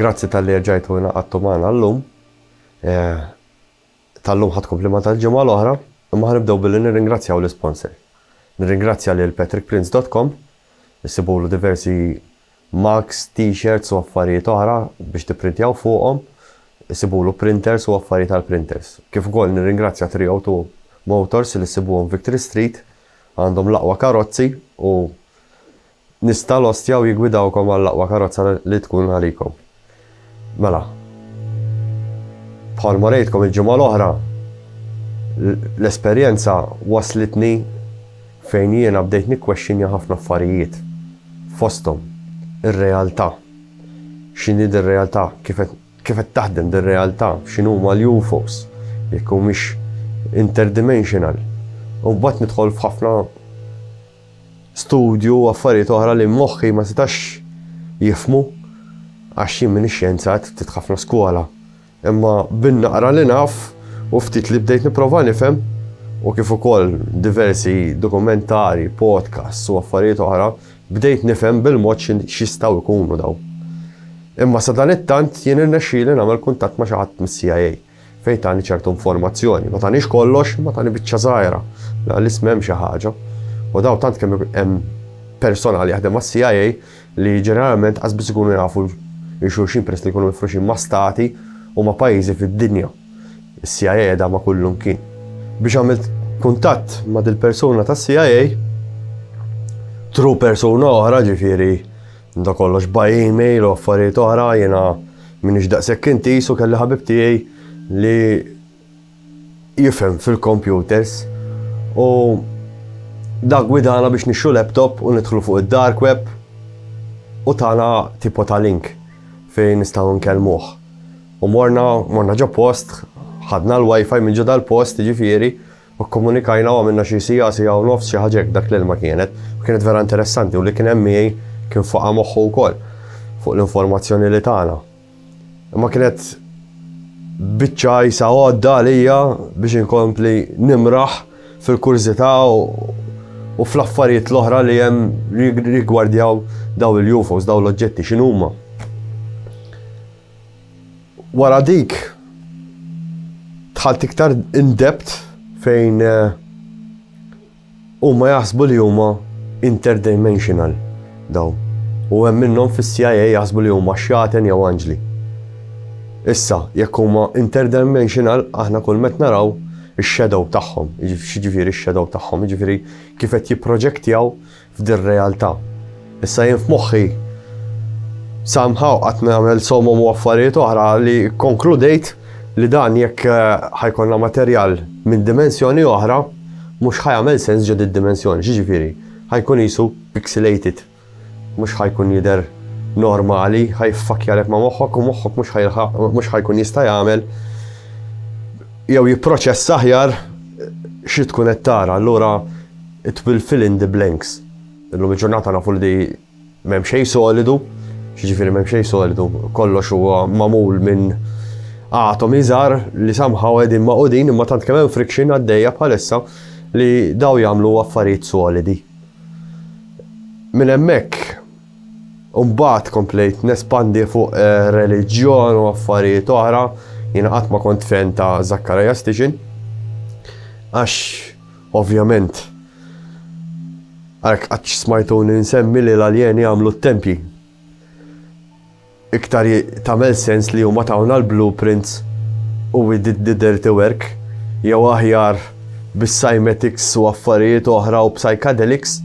Grazzi talli erġajtu hina qattu magħna llum. Eh, tal-lum ħadd komplima tal-ġimgħa l-oħra, imma ħanibdew billi nirringrazzjaw l-isponsor. Nirringrazzja lil patrickprince.com, issibulu diversi mugs, t-shirts u affarijiet oħra biex tipprintjaw fuqhom, issibulu printers u affarijiet għal printers. Kif ukoll nirringrazzja 302 Motors li ssibuhom Victory Street, għandhom l-aqwa karozzi u Nista' l-ostja u jiggwidawkom għall-aqwa karozza li tkun għalikom. Mela, bħalma rejtkom il-ġimgħa l-oħra, l-esperjenza waslitni fejn jiena bdejt nikkwexxinja ħafna affarijiet. Fosthom, ir-realtà. X'inhi dir-realtà? Kif qed taħdem dir-realtà? X'inhuma l-UFOs? Jekk humiex interdimensional? U mbagħad nidħol f'ħafna studju u affarijiet oħra li moħħi ma setax jifhmu għax jien m'iniex xjenzat, ftit ħafna skola. Imma bin-naqra li naf u ftit li bdejt nipprova nifhem u kif ukoll diversi dokumentari, podcasts u affarijiet oħra, bdejt nifhem bil-mod x'jistgħu jkunu daw. Imma sadan it-tant jien irnexxieli nagħmel kuntatt ma' xi ħadd mis-CIA. Fejn tani ċertu informazzjoni, ma tanix kollox, ma tani biċċa żgħira, la l-ism hemm xi ħaġa. U daw tant kemm hemm personal jaħdem għas-CIA li ġeneralment qas biss ikunu jafu xulxin peress li jkunu mifruxin ma' stati u ma' pajjiżi fid-dinja. Is-CIA qiegħda ma' kullum kien. Biex għamilt kuntatt ma' dil-persuna tas-CIA, tru persuna oħra ġifieri da kollox by email u affarijiet oħra jiena M'iniex daqshekk intiż u kelli ħabib tiegħi li jifhem fil-kompjuters u dak gwidana biex nixtru laptop u nidħlu fuq id-dark web u tana tipo ta' link fejn nistgħu nkellmuh. U morna, morna ġo post, ħadna l-wifi minn ġo dal-post, ġifieri, U kkomunikajna u għamilna xi siegħa, siegħa u nofs, xi ħaġa hekk, dak l-ilma kienet. U kienet vera interessanti u li kien hemm miegħi kien faqa' moħħu wkoll fuq l-informazzjoni li tana. Imma kienet biċċa jisa għodda għalija biex inkompli nimraħ fil-kurżità u fl-affarijiet l-oħra li hemm rigwardjaw daw il-UFOs, daw l-oġġetti x'inhuma. Wara dik dħalt iktar in depth fejn eh, huma jaħsbu li huma interdimensional daw. U hemm minnhom fis-CIA jaħsbu li huma xjaten jew anġli. Issa, jekk huma interdimensional, aħna kull met naraw ix-shadow tagħhom, jiġifieri x-shadow tagħhom, jiġifieri kif qed jipproġektjaw f'dir-realtà. Issa jien f'moħħi somehow qatt nagħmel somom u affarijiet oħra li konkludejt li dan jekk eh, ħajkonna materjal minn dimensjoni oħra mhux ħajamel sens ġod id-dimensjoni, ġiġifieri, ħajkun jisu pixelated. Mhux ħajkun jidher normali, ħajfakjalek ma' moħħok u moħħok mhux ħajkun jista' jagħmel jew jipproċess aħjar xi tkun qed tara. Allura It will fill in the blanks. Illum il-ġurnata nafu li m'hemm xejn solidu, x'jiġifieri m'hemm xejn solidu, kollox huwa magħmul minn atomi żgħar li somehow qegħdin magħqudin imma tant kemm hemm friction għaddejja bħalissa li daw jagħmlu affarijiet solidi. Minn hemmhekk Umbat komplejt nespandi fuq eh, reliġjon u affarijiet oħra, jiena qatt ma kont fen ta' Zacharias Tiġin. Għax Ovvjament, għalhekk qatt smajtuni nsemmi li l-aljeni għamlu t-tempji. Iktar tagħmel sens li huma tawna l-blueprints u we did the dirty work, jew aħjar bis-cymetics u affarijiet oħra u psychedelics,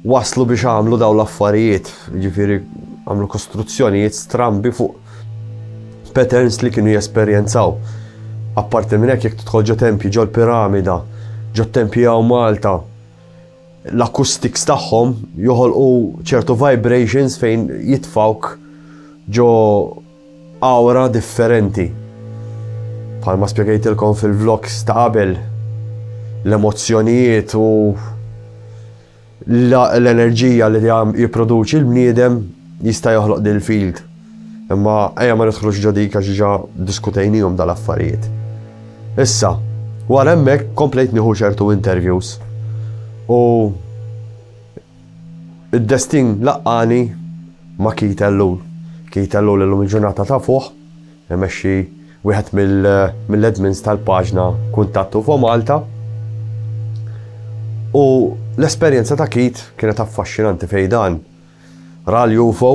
waslu biex għamlu dawn l-affarijiet, jiġifieri għamlu kostruzzjonijiet strambi fuq patterns li kienu jesperjenzaw. Apparti minn hekk jekk tidħol ġo tempji ġol piramida, ġo tempji hawn Malta, l-acoustics tagħhom joħolqu ċertu vibrations fejn jitfawk ġo awra differenti. Bħalma spjegajtilkom fil-vlogs ta' qabel, l-emozzjonijiet u l-enerġija li jipproduċi l-bniedem jista' joħloq din il-field. Imma ejja ma nidħlux ġo dik għax ġa diskutejnihom dal-affarijiet. Issa, wara hemmhekk komplejt nieħu ċertu interviews. U Id-destin laqqani ma' Keith Ellul. Keith Ellul illum il-ġurnata tafuh imexxi wieħed mill-admins tal-paġna Kuntatt UFO Malta. U l-esperjenza ta' Keith kienet affaxxinanti fejn dan ra l-UFO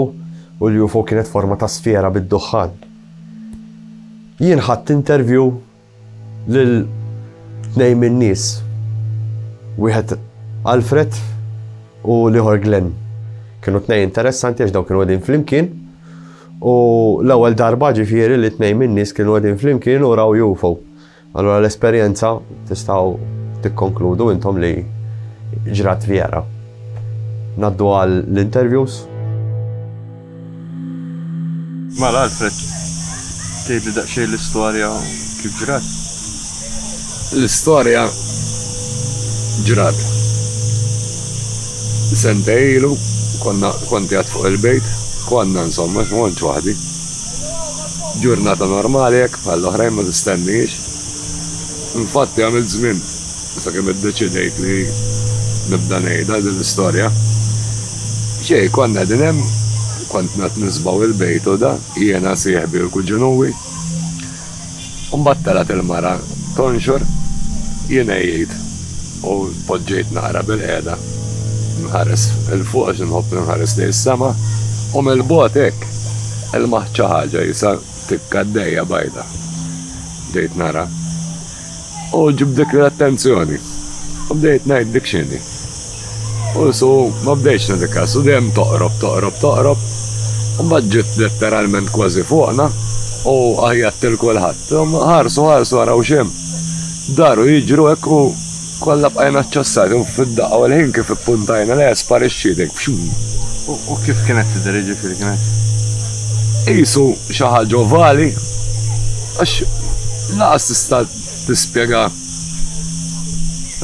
u l-UFO kienet forma ta' sfera bid-duħħan. Jien ħadt interview lil tnejn min-nies, wieħed Alfred u l-ieħor Glenn. Kienu tnejn interessanti għax dawn kienu għedin flimkien u l-ewwel darba ġifieri li tnejn min-nies kienu għedin flimkien u raw UFO. Allura l-esperjenza tistgħu tikkonkludu intom li ġrat vera. Naddu għal l-interviews. Mela Alfred, tgħidli daqsxejn l-istorja u kif ġrat? L-istorja ġrat. Sentej ilu, konna, kont qiegħed fuq il-bejt, konna insomma, għax ma kontx waħdi. Ġurnata normali hekk bħall-oħrajn ma tistennihiex. Infatti għamilt żmien. Sakemm iddeċidejt li nibda ngħidha din l-istorja. Xejn, konna qegħdin hemm, kont qed nisbgħu il-bejt u da, jiena, sieħbi u l-kuġin Uwi. U mbagħad telgħet il-mara tonxor, jien għejjejt u tpoġġejt naqra bilqiegħda nħares 'il fuq għax inħobb li nħares lejn is-sema u mill-bogħod hekk ilmaħt xi ħaġa qisha tikka għaddejja bajda. Bdejt nara. U ġibditli l-attenzjoni. U bdejt ngħid dik x'inhi. U su ma bdejtx nagħti kas u dejjem toqrob, toqrob, toqrob. U mbagħad ġiet letteralment kważi fuqna u għajjat lil kulħadd. Ħarsu, ħarsu araw x'hemm. Daru jiġru hekk u Kollha bqajna ċċassati u fid-daqqa u l-ħin kif ippuntajna lejha sparixxiet hekk b'xumm. U kif kienet tidher, jiġifieri kienet? Qisu xi ħaġa ovali, għax lanqas tista' tispjega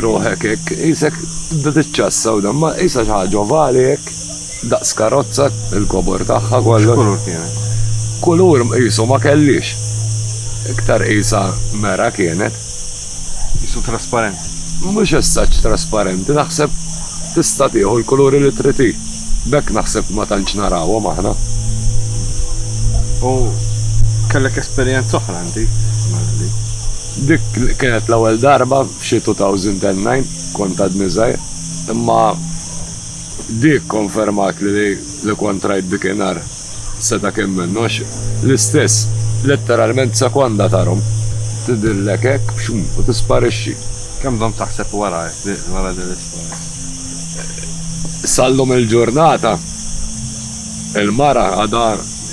ruħek hekk, qisek tibda tiċċassa u dan, ma qisha xi ħaġa ovali hekk, daqs karozza, il-kobor tagħha kollox. X'kulur kienet? Kulur qisu ma kellhiex. Iktar qisha mera kienet. Qisu trasparenti. Mhux as such trasparenti, naħseb tista' tieħu l-kuluri li trid hi. B'hekk naħseb ma tantx narawhom aħna. U kellek esperjenza oħra inti mela li. Dik kienet l-ewwel darba f'xi 2009, kont għadni żgħir, imma dik konfermatli li kont rajt dik inhar. Seta' kemm minn għax l-istess, letteralment sekonda tarhom, tidhirlek hekk bxum u tisparixxi. Kemm domt taħseb wara wara din l-istorja? Sal-lum il-ġurnata, il-mara għadha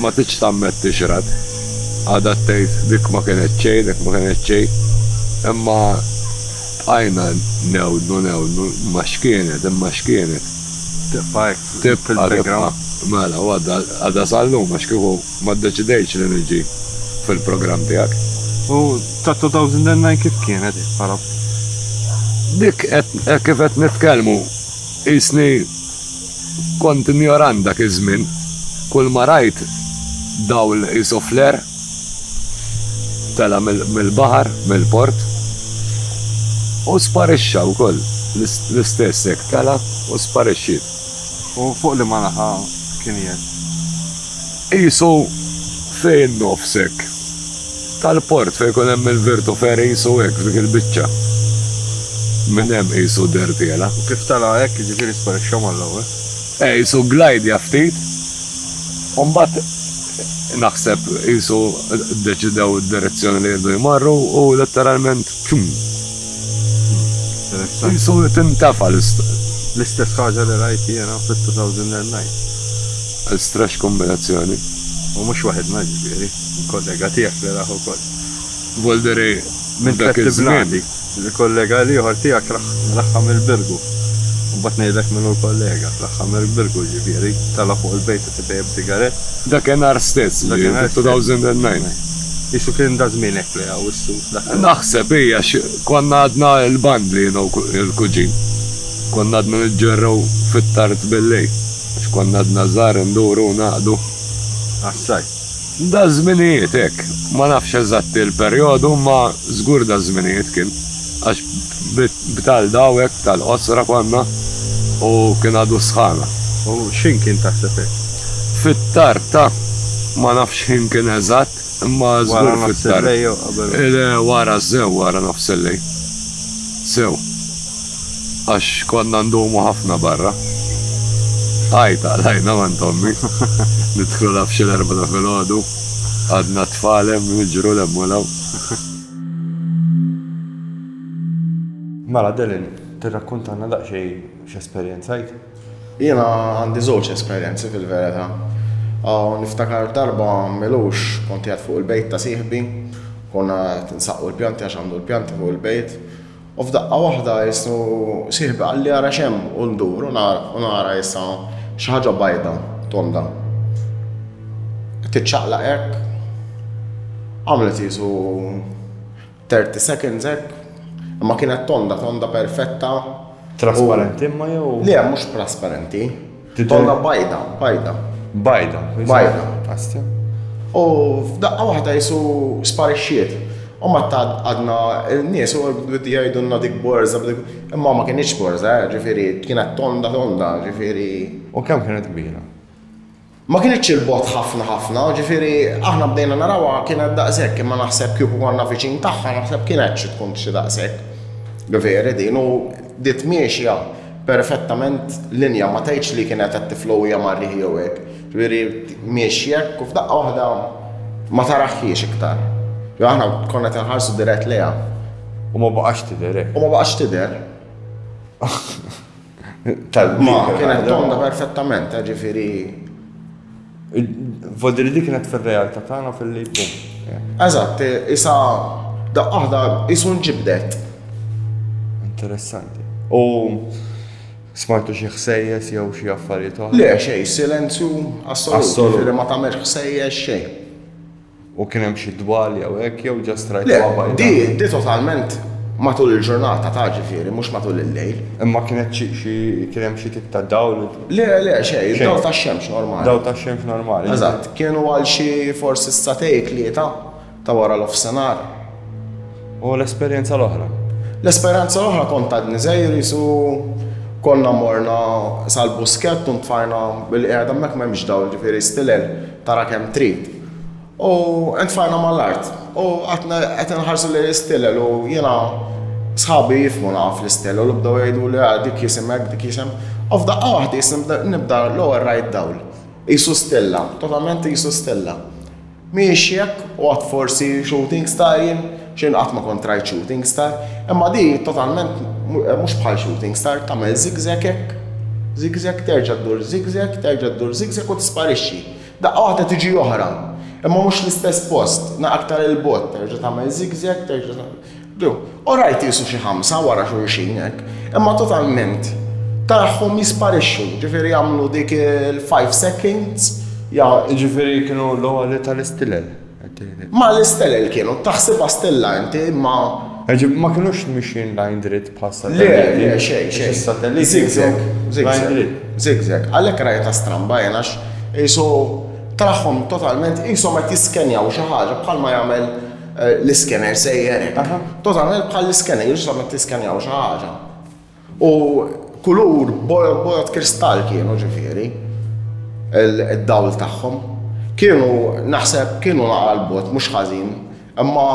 ma tridx tammetti x'rat. Għadha tgħid dik ma kienet xejn, dik ma kienet xejn. Imma bqajna ngħewdnu, ngħewdnu, imma x'kienet, imma x'kienet. Tibqa' hekk. Tibqa' tibqa'. Mela, u għadha sal-lum għax kieku ma ddeċidejtx li niġi fil-programm tiegħek. U ta' 2009 kif kienet hi bħala ftit? Dik hekk kif qed nitkellmu qisni kont injoran dak iż-żmien. Kulma rajt dawl isu flare. Tela' mill-baħar, mill-port, u sparixxa wkoll, l-istess hekk tela' u sparixxiet. U fuq liema naħa kien qiegħed? Qisu fejn nofs hekk tal-port, fejn ikun hemm il-Virtu Ferry, qisu hekk, f'dik il-biċċa. Minn hemm qisu deher tela'. U kif tela' hekk, jiġifieri sparixxa mal-ewwel? Qisu glajdja ftit. U mbagħad naħseb qisu ddeċidew id-direzzjoni li jridu jmorru u letteralment pum! Qisu tintefa' l-istoria. L-istess ħaġa li rajt jiena fit-2009. Strange kombinazzjoni. U mhux waħidna jiġifieri, kollega tiegħek li rah ukoll. Voldere minn dak iż-żmien. Minn Fett Bladi, il-kollega l-ieħor tiegħek raħħa mill-Birgu. Imbagħad ngħidlek min hu l-kollega. Raħħa mill-Birgu jiġifieri, tela' fuq il-bejta titejjeb sigarett. Dakinhar stess, ġifieri fi 2009. Qisu kien da' żmien hekk li Awwissu dak il-waqt. Naħseb, hi, għax konna għadna l-bandli jien u l-kuġin. Konna għadna niġġerrew fit-tard bil-lejl, għax konna għadna żgħar induru u naqdu. Għas-sajf. Daż-żminijiet hekk. Ma nafx eżatt il-perjodu imma żgur daż-żminijiet kien għax b'tal dawek tal qosra konna u kien għadu s-sħana. U x'ħin kien taħseb hekk? Fit-tard ta', ma nafx ħin kien eżatt imma żgur fit-tard. Wara nofsillejl jew qabel? Le wara sew wara nofsillejl. Sew. Għax konna ndumu ħafna barra. Għajt għalajna m'għand ommi. Nidħlu la f'xi l-erbgħa ta' filgħodu. Għadna t-tfal hemm niġru 'l hemm u 'l hawn. Mela Delyn, tirrakkuntalna daqsxejn x'esperjenzajt? Jiena għandi żewġ esperjenzi fil-verità. Niftakar darba m'ilux kont qiegħed fuq il-bejt ta' sieħbi. Konna qed insaqqu l-pjanti għax għandu l-pjanti fuq il-bejt. U f'daqqa waħda jisnu sieħbi qalli ara x'hemm u ndur u nara issa xi ħaġa bajda tonda. Tiċċaqlaq hekk. Għamlet jisu 30 seconds hekk. Imma kienet tonda, tonda perfetta. Trasparenti imma jew? Le, mhux trasparenti. Titolna bajda, bajda. Bajda. Bajda. Astja. U f'daqqa waħda jisu sparixxiet. U ma ta' għadna il-nies u bdi jgħidunna dik borza, imma ma kienieċ borza, eh, ġifiri, kienet tonda tonda, ġifiri. U kemm kienet kbira? Ma kienieċ il-bot ħafna ħafna, ġifiri, aħna bdejna narawa kienet daqsek, imma naħseb kieku għanna viċin taħħa, naħseb kienet xi tkun xi daqsek. Veri din, u dit miexja Perfettament linja, ma tgħidx li kienet qed tiflow hija mar-riħ jew hekk. Ġifieri miexi hekk u f'daqqa waħda ma taraħħiex iktar. Jew aħna konna qed inħarsu dirett lejha. U ma baqax tidher hekk. U ma baqax tidher. Tal-ma kienet tonda perfettament, ġifieri. Vodi li dik kienet fir-realtà tagħna fil-li bum. Eżatt, isa daqqa waħda isu nġibdet. Interessanti. U smajtu xi ħsejjes jew xi affarijiet oħra? Le, xejn, silenzju assoluti, ma tagħmel ħsejjes xejn. U kien hemm xi dwali jew hekk jew just rajtuha bajda? Le, di, di totalment matul il-ġurnata ta' ġifieri, mhux matul il-lejl. Imma kienet xi, xi, kien hemm xi tip ta' dawl? Le, le, xejn, id-dawl tax-xemx normali. Dawl tax-xemx normali. Eżatt, kienu għal xi forsi s-sagħtej tlieta ta' wara l-ofsenar. U l-esperjenza l-oħra? L-esperjenza l-oħra kont għadni żgħir qisu konna morna sal-Buskett u ntfajna bil-qiegħda hemmhekk m'hemmx dawl ġifieri stilel. Tara kemm trid. U ntfajna mal-art. U għadna qed inħarsu lejn l-istilel u jiena sħabi jifmu naqaf l-istilel u bdew jgħiduli ah, dik jisimek, dik jisem. U f'daqqa waħda jisim nibda l-ewwel rajt dawl. Qisu stilla, totalment qisu stilla. Mhijiex jekk u għad forsi shooting star jien Jien qatt ma kont rajt shooting star, imma di totalment mhux bħal shooting star, tagħmel zigzag hekk, zigzag terġa' ddur zigzag, terġa' ddur zigzag u tisparixxi. Daqqa waħda tiġi oħra, imma mhux l-istess post, na aktar il bogħod terġa' tagħmel zigzag, terġa' tagħmel. U rajt qisu xi ħamsa wara xulxin hekk, imma totalment tarahom jisparixxu, ġifieri jagħmlu dik il-five seconds, ġifieri kienu l-għoli tal-istilel. Ma l-istelel kienu, taħsibha stella inti, imma. Ġifieri ma kinux mixjin lajn dritt bħal satelliti. Le, le, xejn, xejn. Is-satelliti. Zigzag, zigzag. Zigzag. Għalhekk rajtha stramba jien għax qisu traħħhom totalment qishom qed jiskenjaw xi ħaġa bħalma jagħmel eh, l-iskener sejjer. Totalment bħal l-iskener, jiġu tiskenjaw xi ħaġa. U kulur bojod kristall kienu ġifieri id-dawl tagħhom. Kienu naħseb kienu naqal bot mhux ħażin, imma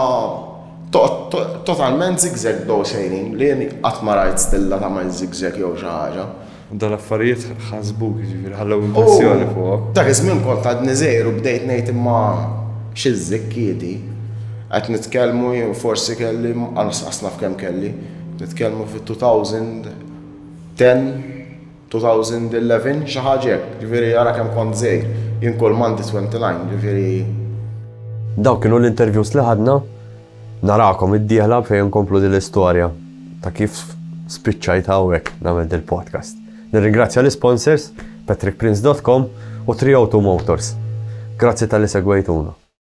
totalment zigzag bdew sejrin li jien qatt ma rajt stilla tagħmel zigzag jew xi ħaġa. U dawn l-affarijiet ħasbuk ġifieri ħallew impressjoni fuqhom. Dak iż-żmien kont għadni żgħir u bdejt ngħid imma xi żikkiedi qed nitkellmu jien forsi kelli anqas naf kemm kelli. Nitkellmu fit-2010, 2011, xi ħaġa hekk, jiġifieri ara kemm kont żgħir. Jien kull m'għandi 29, jiġifieri. Dawk kienu l-interviews li ħadna. Narakom id-dieħla fejn inkomplu din l-istorja ta' kif spiċċajt hawnhekk nagħmel dil-podcast. Nirringrazzja l-isponsors, patrickprince dot com u 302 Motors. Grazzi talli segwejtuna.